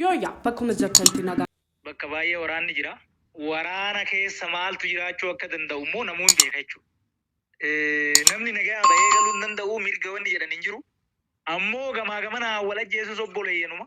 Yooyyaa bakkuma jirtanti nagaa. Bakka baay'ee waraanni jira. Waraana keessa maaltu jiraachuu akka danda'u immoo namuu hin beeka jechuudha. Namni nagaa bahee galuu hin danda'u mirga wanni jedhan hin jiru. Ammoo gamaa gamanaa wal ajjeesus obboleeyyanuma.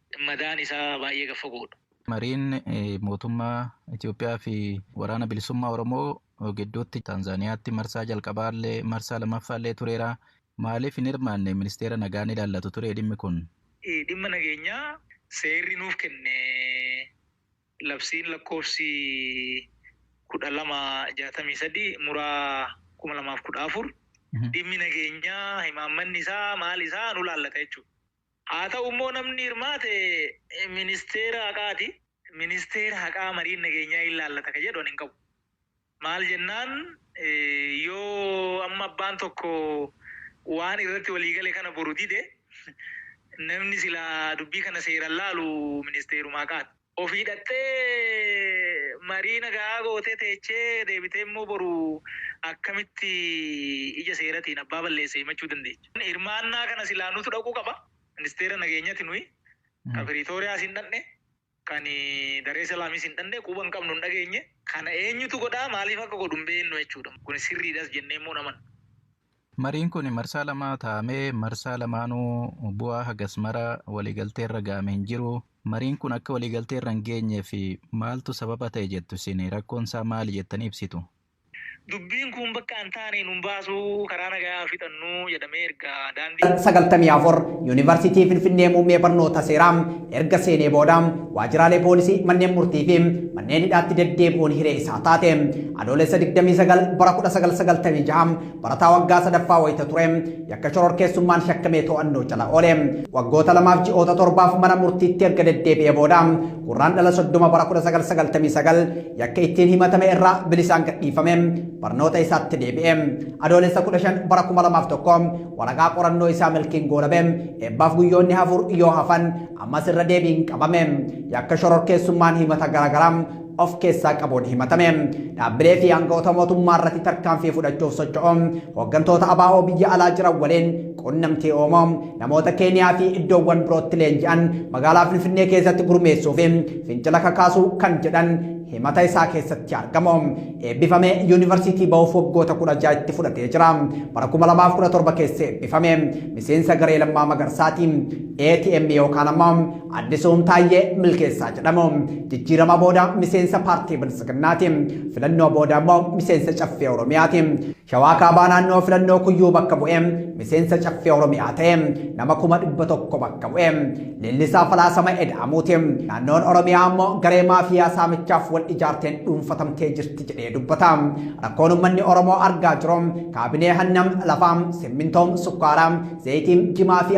madaan isaa baay'ee gad fagoodha. Mariin mootummaa Itoophiyaa fi Waraana Bilisummaa Oromoo gidduutti Taanzaaniyaatti marsaa jalqabaallee marsaa lammaffaallee tureera. Maaliif hin hirmaanne ministeera nagaa ni ilaallatu ture dhimmi kun? Dhimma nageenyaa seerri nuuf kenne labsiin lakkoofsi 12 63 muraa 2014 dhimmi nageenyaa himaammanni isaa maal isaa nu ilaallata jechuudha. Haa ta'u immoo namni hirmaate ministeera haqaati. Ministeera haqaa mariin nageenyaa hin laallata kan jedhu ani hin qabu. Maal jennaan yoo amma abbaan tokko waan irratti walii gale kana boru dide namni silaa dubbii kana seeran laalu ministeeruma haqaati. Ofii dhaqxee marii nagahaa gootee teechee deebitee immoo boru akkamitti ija seeratiin abbaa balleesse himachuu dandeecha? Hirmaannaa kana silaa nutu dhaquu qaba. Ministeera nageenyati nuyi ka Piriitooriyaas hin dhaqne, kan Daree Salaamis hin dhaqne, quba hin qabnu hin dhageenye. Kana eenyutu godhaa maaliif akka godhu hin beeknu jechuudha. Kuni sirriidhas jennee immoo hin amannu. Mariin kun marsaa lama taa'amee marsaa lamaanuu bu'aa hagas mara waliigalteerra ga'ame hin jiru. Mariin kun akka waliigalteerra hin geenyeef maaltu sababa ta'e jettu isin? Rakkoon isaa maali jettanii ibsitu? Dubbiin kun bakka hin taane nun baasuu, karaa nagayaa haa fixannu jedhamee erga daandii. 94, Yuunivarsiitii Finfinnee Muummee Barnoota Seeraa erga seenee booda waajjiraalee poolisii, manneen murtii fi manneen hidhaatti deddeebi'uun hiree isaa taate. Adoolessa 29 bara 1996 Barataa waggaa sadaffaa wayita ture yakka shororkeessummaan shakkamee to'annoo jala oole. Waggoota lamaaf ji'oota torbaaf mana murtiitti erga deddeebi'ee booda gurraan dhala soddoma bara 1999 yakka ittiin himatame irraa bilisaan gadhiifame barnoota isaatti deebi'e. Adoolessa 15 bara 2001 waraqaa qorannoo isaa milkiin goolabe eebbaaf guyyoonni hafur yoo hafan ammas irra deebiin qabame. Yakka shororkeessummaan himata garaagaraa of keessaa qabuun himatame. Dhaabbilee fi aangawoota mootummaa irratti tarkaanfii fudhachuuf socho'u hooggantoota ABO biyya alaa jiran waliin quunnamtii uumu namoota Keeniyaa fi iddoowwan birootti leenji'an magaalaa Finfinnee keessatti gurmeessuu fi fincila kakaasuu kan jedhan himata isaa keessatti argamu. Eebbifame yuunivarsiitii ba'uuf waggoota kudha ja'a itti fudhatee jira. Bara kuma lamaaf kudha torba keessa eebbifame. Miseensa garee Lammaa Magarsaati. ATM yookaan ammoo Addisuun Taayyee Milkeessaa jedhamu jijjiirama booda miseensa paartii Biltsiginnaati. Filannoo booda immoo miseensa Caffee Oromiyaati. Shawaa Kaabaa naannoo filannoo kuyyuu bakka bu'ee miseensa Caffee Oromiyaa ta'e nama kuma dhibba tokko bakka bu'e. Leellisaa falaasama Eda'amuuti. Naannoon Oromiyaa immoo garee maafiyaa saamichaaf wal ijaarteen dhuunfatamtee jirti jedhee dubbata. Rakkoon uummanni Oromoo argaa jiru kaabinee hannam lafaa, simmintoom, sukkaaraa, zayitiin, jimaa fi